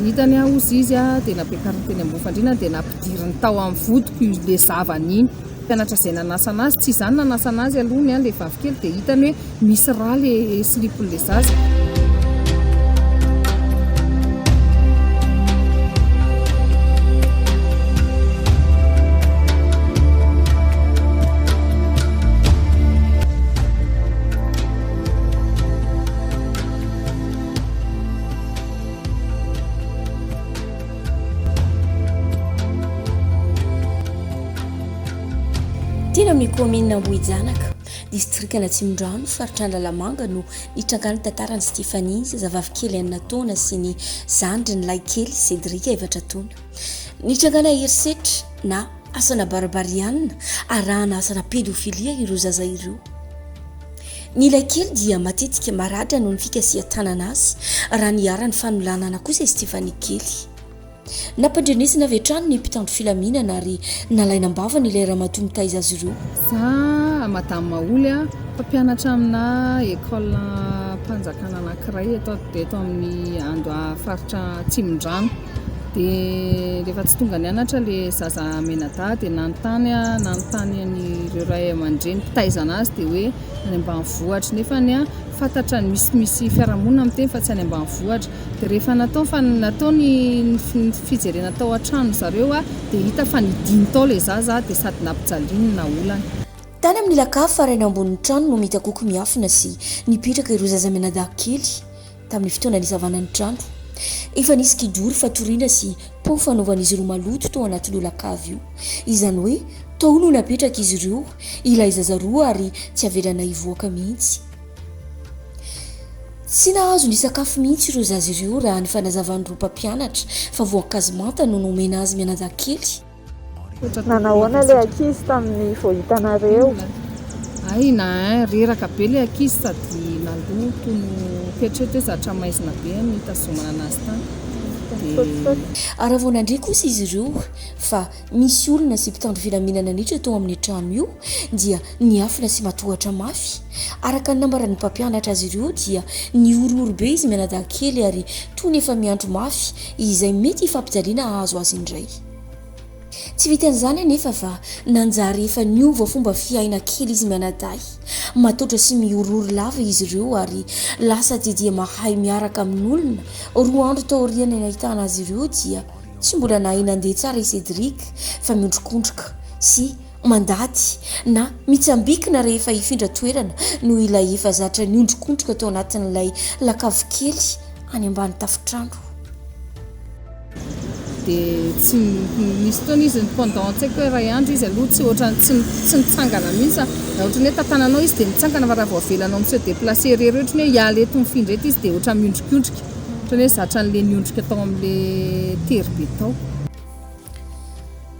Ritany aho ozy izy dia nampiakariny teny Ambohifandriana dia nampidiriny tao amin'ny vodiko ilay zavany iny. Mpianatra izay nanasana azy, tsy izaho no nanasana azy aloha ny ahy ilay vavikely dia hitany hoe misy rà ilay silipon'ilay zaza. Teny amin'ny kaominina Ambohijanaka, distrikan'Atsimondrano, faritra Analamanga no nitrangan'ny tantaran'i Stéphanie, zazavavy kely enina taona sy ny zandriny lahikely Cédric efatra taona. Nitrangana herisetra na. Asana barbariana arahana asana pédophilia ireo zaza ireo. Ny ilay kely dia matetika maratra noho ny fikasihan-tanana azy raha niharan'ny fanolanana kosa i Stephanie kely. Nampandrenesina avy hatrany ny mpitandro filaminana ary nalaina am-bavany ilay ramatoa mitaiza azy ireo. Za Madame Maholy a, mpampianatra amina école-mpanjakana anankiray eto eto amin'ny Andoha faritra Atsimondrano. Dia rehefa tsy tonga nianatra ilay zaza mianadahy dia nanontany aho, nanontany an'ireo ray aman-dreny mpitaiza an'azy dia hoe any ambanivohitra, nefa anie fantatra ny misimisy fiarahamonina miteny fa tsy any ambanivohitra, dia rehefa natao fa natao ny fijerena tao an-trano zareo aho dia hita fa nidiny tao ilay zaza aho dia sady nampijaliany na olana. Tany amin'ny lakafa rainy ambonin'ny trano no mitakoky miafina sy nipetraka ireo zaza mianadahy kely, Tamin'ny fotoana nisavana ny trano, efa nisy kidoro fatoriana sy pot fanaovan'izy ireo maloto tao anaty lolak'avy io. Izany hoe tao no napetrak'izy ireo ilay zaza roa ary tsy avelana hivoaka mihitsy. Tsy nahazo nisakafo mihitsy ireo zaza ireo raha ny fanazavan'ireo mpampianatra fa voankazo manta no nomena azy mianadahy kely. Nanao ahoana ilay ankizy tamin'ny vao hitanareo? Hay na hein, reraka be ilay ankizy sady nandoa toy ny fetrety hoe zatra maizina be ny nitazomana anazy tany dia. Raha vao nandre kosa izy ireo fa misy olona sy mpitandro filaminana niditra tao amin'ny trano io dia niafina sy matohatra mafy. Araka ny nambaran'ny mpampianatra azy ireo dia nihorohoro be izy mianadahy kely ary toy ny efa miandry mafy izay mety hifampijaliana hahazo azy indray. Tsy vitan'izany anefa fa nanjary efa niova fomba fiaina kely izy mianadahy. Matotra sy mihorohoro lava izy ireo ary lasa dia dia mahay miaraka amin'olona. Roa andro taorian'ny nahitana azy ireo dia tsy mbola nahay nandeha tsara i Cédric fa miondrikondrika sy mandady na mitsambikina rehefa hifindra toerana noho ilay efa zatra niondrikondrika tao anatin'ilay lakavikely any ambany tafontrano. Dia tsy nisy fotoana izy ny pendant an-tsaiko hoe iray andro izy aloha tsy ohatran'ny tsy tsy nitsangana mihitsy aho. Raha ohatra ny hoe tantananao izy dia mitsangana fa raha vao avelanao mi-se déplacer irery hoe ohatry ny hoe hiala eto mifindra eto izy dia ohatran'ny miondrikondrika. Ohatran'ny hoe zatra an'ilay niondrika tao amin'ilay tery be tao.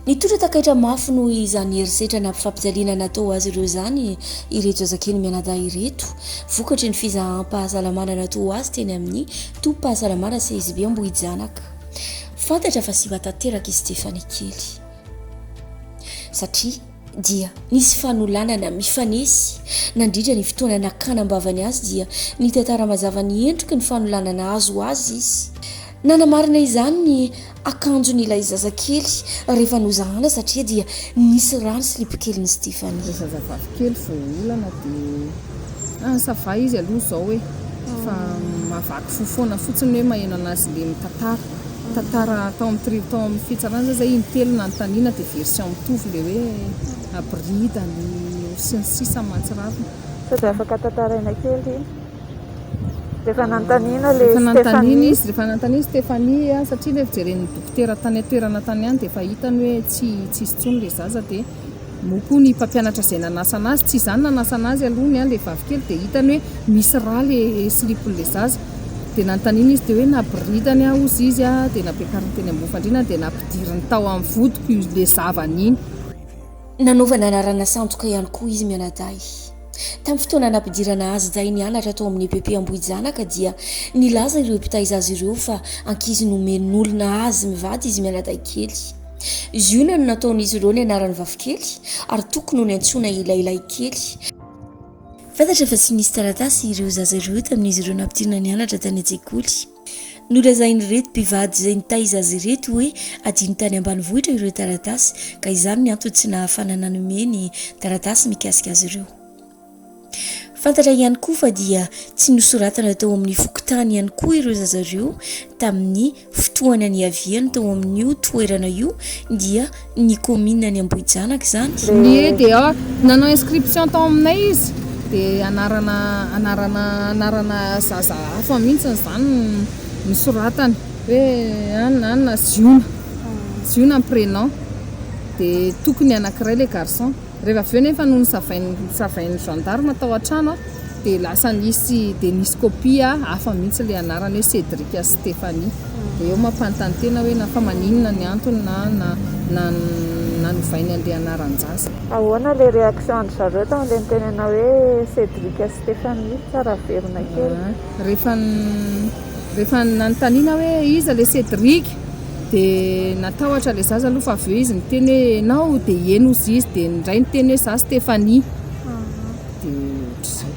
Nitondra takaitra mafy noho izany herisetra nampifampijalina natao azy ireo izany ireto zazakely mianadahy ireto, vokatry ny fizaham-pahasalamana natao azy teny amin'ny tobim-pahasalamana CSB Ambohijanaka. Fantatra fa simba tanteraka i Stephanie kely, satria dia nisy fanolanana mifanesy nandritra ny fotoana nakana am-bavany azy dia nitantara mazava ny endriky ny fanolanana azo azy izy. Nanamarina izany ny akanjon'ilay zazakely rehefa nozahana satria dia nisy rà ny silipokelin'i Stephanie. Ilay zazavavikely vao olana dia ah ça va izy aloha izao e! fa mahavaky fo foana fotsiny hoe maheno an'azy le mitantara tantara tao amin'ny tri tao amin'ny fitsarana zany zay intelo nanontaniana dia version mitovy le hoe abridany sy ny sisa mahatsiravina. Sao dia afaka tantaraina kely. Rehefa nanontaniana ilay Stéphanie. Rehefa nanontaniana izy, rehefa nanontaniana izy Stéphanie a, satria ilay fijeren'ny dokotera tany an-toerana tany ihany dia efa hitany hoe tsy tsisy intsony ilay zaza dia moa koa ny mpampianatra izay nanasa anazy, tsy izaho no nanasa anazy aloha ny ahy ilay vavikely dia hitany hoe misy rà ilay silipon'ilay zaza. Dia nanontaniana izy teo hoe naboridany aho hozy izy a, dia nampiakariny teny ambony fandriana dia nampidiriny tao amin'ny vodiko ilay zavany iny. Nanaovana anarana sandoka ihany koa izy mianadahy. Tamin'ny fotoana nampidirana azy izahay nianatra tao amin'ny EPP Ambohijanaka dia nilaza ireo mpitaiza azy ireo fa ankizy nomen'olona azy mivady izy mianadahy kely. Ziona no nataon'izy ireo ny anaran'ny vavikely ary Toko no niantsoana ilay lahikely. Fantatra fa tsy nisy taratasy ireo zaza ireo tamin'izy ireo nampidirina nianatra tany an-tsekoly. Nolazain'ireto mpivady izay nitaiza azy ireto hoe hadino tany ambanivohitra ireo taratasy ka izany ny antony tsy nahafana nanome ny taratasy mikasika azy ireo. Fantatra ihany koa fa dia tsy nosoratana tao amin'ny fokontany ihany koa ireo zaza ireo tamin'ny fotoana niaviany tao amin'io toerana io dia ny commune ny Ambohijanaka izany. Ny EDA, nanao inscription tao aminay izy dia anarana anarana anarana zaza hafa mihitsy izany no soratany hoe an an ziona ziona ny prénom dia tokony anakiray ilay garçon. Rehefa avy eo nefa no nosavain'ny gendarme tao an-trano dia lasa nisy dia nisy kopia hafa mihitsy ilay anarana hoe Cédric sy Stéphanie. Dia eo mampanontany tena hoe na fa maninona ny antony na na nanovainy an'ilay anaran-jaza. Ahoana ilay réaction an-dry zareo tamin'ilay nitenenanao hoe Cédric sy Stéphanie? Sao raverina kely. Rehefa rehefa nanontaniana hoe iza ilay Cédric? dia natahotra ilay zaza aloha fa avy eo izy niteny hoe ianao dia heno hozy izy dia ny ray niteny hoe za Stéphanie ah. dia ohatr'izay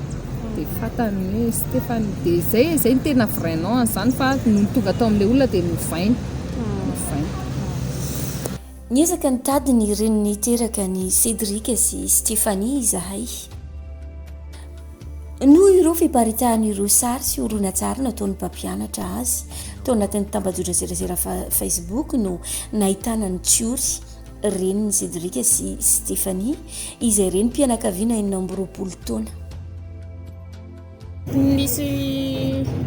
dia fatany hoe Stéphanie dia izay izay ny tena vrai nom an'izany fa nony tonga tao amin'ilay olona dia novainy ah. novainy Niezaka nitady ny reniny teraka ny Cédric sy Stéphanie izahay. Noho ireo fiparitahany ireo sary sy horonantsary nataon'ny mpampianatra azy tao anatin'ny tambajotran-tserasera Facebook no nahitana an'i Tsiory, renin'i Cédric sy Stéphanie, izay renim-pianakaviana enina amby roapolo taona. Nisy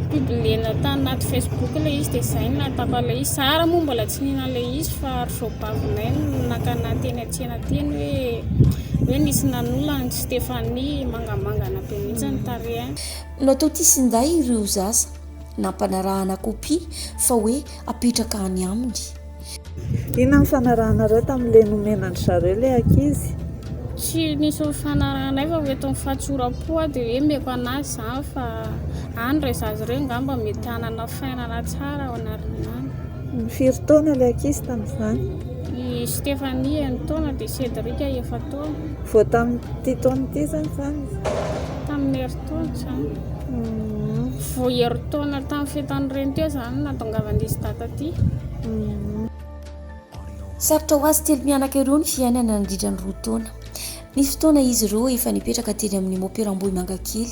mpidonena tany anaty Facebook ilay izy dia izay no nahatako an'ilay izy. Zara moa mbola tsy nihina an'ilay izy fa ry Zobavy Nail no nakana teny an-tsena. Tena teny hoe hoe nisy nanolo an'i Stéphanie mangamangana be mihitsy ny tarehiny. Nototisin-dahy ireo zaza, nampanarahana kopia fa hoe apetraka any aminy. Inona ny fanarahanareo tamin'ilay nomenan-dry zareo ilay ankizy? Tsy nisy nifanarahanay fa hoe tony fahatsoram-po aho dia hoe meko an'azy izany fa any ireo zaza ireo angamba mety hanana fainana tsara ao an'aoriana any. Firy taona ilay ankizy tamin'izany? I Stéphanie enina taona dia Cédric efa-taona. Vao tamin'ity taona ity izany izany izy? Tamin'ny herintaona izany. Vao herintaona tamin'ny fetan'ny reny teo izany nahatongavan'izy dada aty. Sarotra ho azy telo mianaka ireo ny fiainana nandritra ny roa taona. Nisy fotoana izy ireo efa nipetraka teny amin'ny Mopera Ambohimangakely,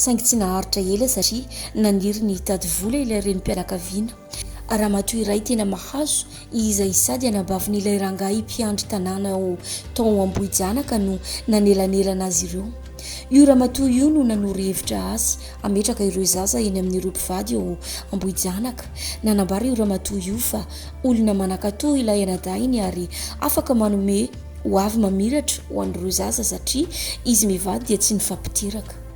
saingy tsy naharitra ela satria naniry ny hitady vola ilay renim-pianakaviana. Ramatoa iray tena mahazo izay sady anabavin'ilay rangahy mpiandry tanàna ao Taon Ambohijanaka no nanelanelana azy ireo. Io ramatoa io no nanoro hevitra azy hametraka ireo zaza eny amin'ireo mpivady ao Ambohijanaka. Nanambara io ramatoa io fa olona manan-katò ilay anadahiny ary afaka manome ho avy mamiratra ho an'ireo zaza satria izy mivady dia tsy nifampiteraka.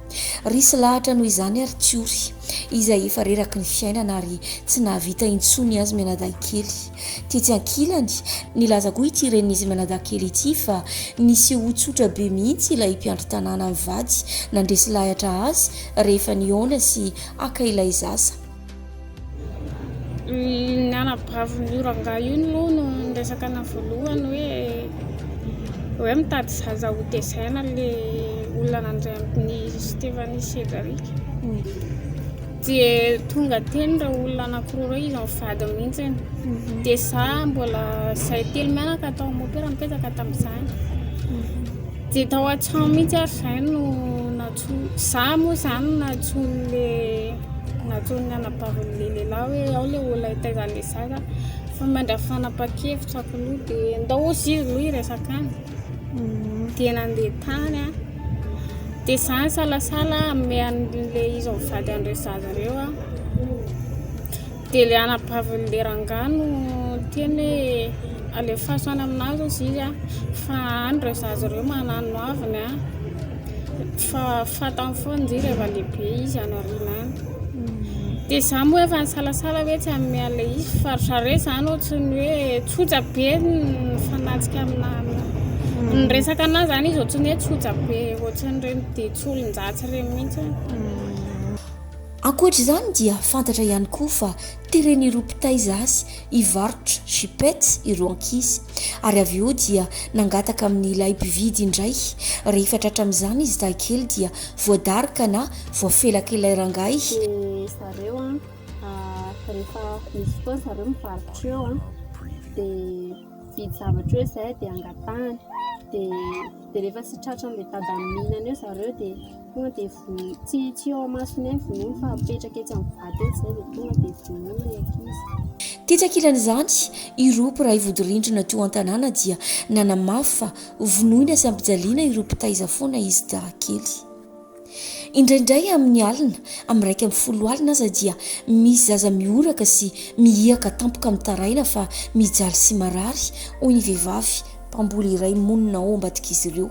Resy lahatra noho izany ary Tsiory, izay efa reraky ny fiainana ary tsy nahavita intsony azy mianadahy kely. Tetsy ankilany, nilaza koa ity renin'izy mianadahy kely ity fa nisehoa tsotra be mihitsy ilay mpiandry tanàna mivady nandresy lahatra azy rehefa nihaona sy haka ilay zaza. Ny anabavin'io rangahy io moa no niresaka anah voalohany hoe hoe mitady zaza ho tezaina le olona nandray an'i Stephanie sy Cedric. Dia tonga teny ireo olona anankiroa ireo izy amin'ny vady mihitsy. Dia za mbola zahay telo mianaka tao amin'ny opera mipetraka tamin'izany. Dia tao an-trano mihitsy ary izay no natsofohany. Za moa zany nantsoiny le nantsoiny ny anabaviny le lehilahy hoe ao le olona itaizany le zaza fa mandra fanapakevitra ako loha de ndao ozy izy loha hiresaka any de nandeha tany a de za nisalasala hanome an'le izy ho vady an'ireo zaza ireo a de le anabaviny le rangahy no niteny hoe alefaso any aminazy ozy izy a fa any ireo zaza ireo manano haviny a. Fa fantany foana izy rehefa lehibe izy any aoriana any. Dia izaho moa efa nisalasala hoe tsy hanome an'ilay izy fa ry zareo izany ohatran'ny hoe tsotra be ny fanatrika amina ny resaka anazy izany izy ohatran'ny hoe tsotra be ohatran'ireny dia tsy olon-dratsy ireny mihitsy. Ankoatra izany dia fantatra ihany koa fa teren'ireo mpitaiza azy hivarotra chipets ireo ankizy. ary avy eo dia nangataka amin'ilay mpividy indray, rehefa tratra amin'izany izy dahikely dia voadaroka na voafelak'ilay rangahy. Dia zareo an, rehefa misy fotoana zareo mivarotra eo an, dia mividy zavatra eo izay dia angatahany, dia rehefa tsy tratran'ilay dada mihinana eo zareo dia. Tonga dia vonoy, tsy tsy eo amasony ihany vonoiny fa apetraka etsy amin'ny vato etsy izay dia tonga dia vonoy ilay ankizy. Tetsy ankilan'izany, ireo mpiray vodirindrina teo an-tanàna dia nanamafy fa vonoina sy ampijaliana ireo mpitaiza foana izy dahakely. Indraindray amin'ny alina, amin'ny iraika amby folo alina aza dia misy zaza mihoraka sy mihiaka tampoka mitaraina fa mijaly sy marary, hoy ny vehivavy mpamboly iray monina ao Ambadik'izy Ireo.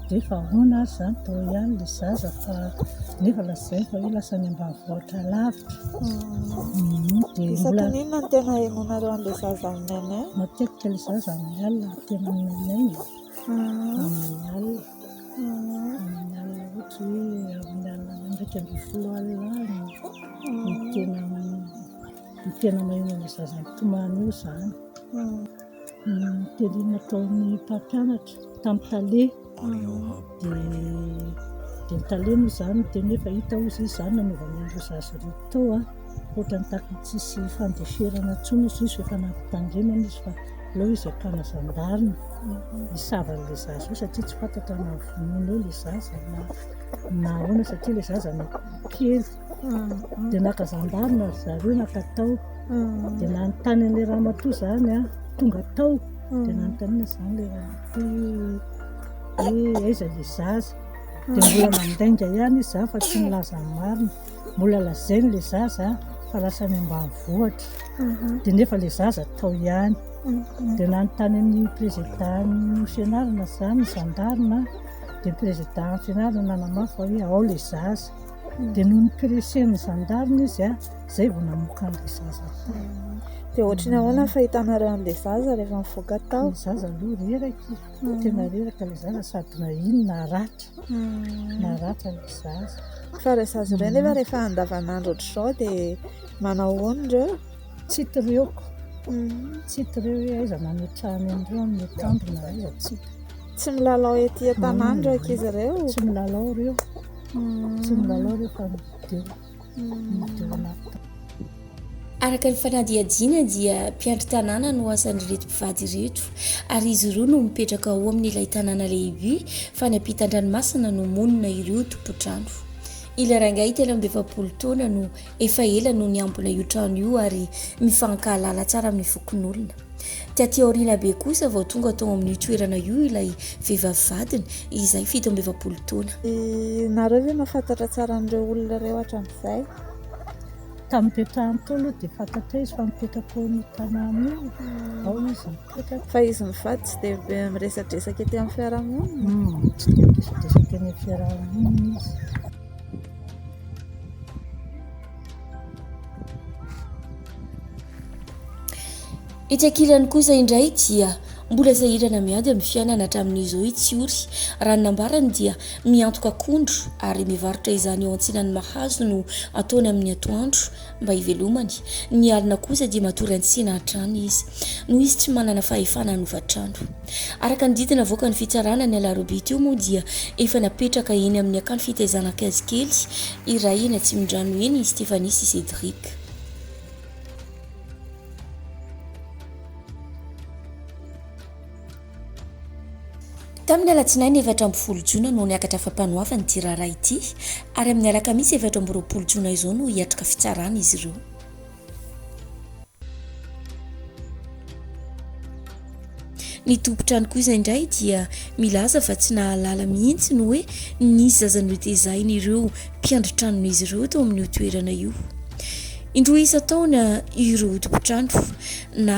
Rehefa ahoana ary izany daholo ihany ilay zaza fa nefa lazainy fa hoe lasa any ambanivohitra alavitra. Dia mbola Isakin'inona no tena ahenoanareo an'ilay zaza amin'ny aina? matetika ilay zaza amin'ny alina no tena miaina e. Amin'ny alina. Amin'ny alina ohatra hoe amin'ny alina iraika ambin'ny folo alina any no tena no tena maheno an'ilay zaza mitomany eo izany. Tele nataon'ny mpampianatra tamin'ny tale, dia ny tale moa izany no tena hoe fa hita hozy izy izany nanaovana an'ireo zaza ireo tao an, ohatran'ny tafika tsisy fandeferana intsony hozy izy rehefa nampitandremana izy fa aleo izy hakana zandary hisava an'ilay zaza io satria tsy fantatra na vonoina eo ilay zaza na ahoana satria ilay zaza kely. dia naka zandary na ry zareo naka tao, dia nanontany an'ilay ramatoa izany an, tonga tao dia nanontaniana izany ilay ramatoa hoe aiza ilay zaza, dia mbola mandainga ihany izy izany fa tsy nilaza ny marina, mbola lazainy ilay zaza fa lasa any ambanivohitra, dia nefa ilay zaza tao ihany, dia nanontany an'ny prezidan'ny fianarana izany ny zandarina, dia ny prezidan'ny fianarana nanamafy fa hoe ao ilay zaza. dia noho ny pressen'ny gendarme izy izay vao namoaka an'ilay zaza tao dia ohatry ny ahoana ny fahitanareo an'ilay zaza rehefa mivoaka tao ny zaza aloha reraka hmm. tena reraka ilay zaza sady na iny na ratra hmm. na ratra ilay zaza fa ilay zaza ireo nefa hmm. rehefa andavanandro ohatr'izao dia manao ahoana ireo tsy tireoko tsy tireo hoe aiza manotrany an'ireo amin'ny tambina aiza tsy Tsy milalao ety an-tanàna ireo ankizy ireo? Tsy milalao ireo. Tsy milalao ireo fa mideo. Mideo anaty Araka ny fanadihadiana dia mpiandry tanàna no asan'ireto mpivady ireto ary izy ireo no mipetraka ao amin'ilay tanàna lehibe fa any ampitan-dranomasina no monina ireo tompotrano. Ilay rangahy telo amby efapolo taona no Efa ela no niambina io trano io ary mifankahalala tsara amin'ny fokonolona. Taty aoriana be kosa vao tonga tao amin'io toerana io ilay vehivavy vadiny izay fito amby efapolo taona. Ianareo ve mahafantatra tsara an'ireo olona ireo hatramin'izay? Tamin'ity trano ity aloha dia fantatro hoe izy fa mipetraka ao amin'io tanàna io ao izy mipetraka. Fa izy mivady tsy dia be miresadresaka ety amin'ny fiarahamonina? Tsy dia miresadresaka eny amin'ny fiarahamonina izy. Etsy ankilany kosa indray dia mbola sahirana miady amin'ny fiainana hatramin'izy io i Tsiory. Raha ny nambarany dia miantoka akondro ary mivarotra izany eo antsinan'ny Mahazo no ataony amin'ny atoandro. mba hivelomany, ny alina kosa dia matory an-tsena hatrany izy, noho izy tsy manana fahefana hanova trano. Araka ny didy navoaka ny fitsarana ny alarobia teo moa dia efa napetraka eny amin'ny akany fitaizana ankizy kely iray eny Atsimondrano eny i Stéphanie sy Cédric. Tamin'ny alatsinainy efatra ambin'ny folo jona no niakatra fampanoavana ity raharaha ity ary amin'ny alakamisy efatra amby roapolo jona izao no hiatrika fitsarana izy ireo. Ny tompon-trano kosa indray dia milaza fa tsy nahalala mihitsy ny hoe nisy zaza notezahin' ireo mpiandry tranon'izy ireo teo amin'io toerana io. Indroa isan-taona ireo tompon-trano na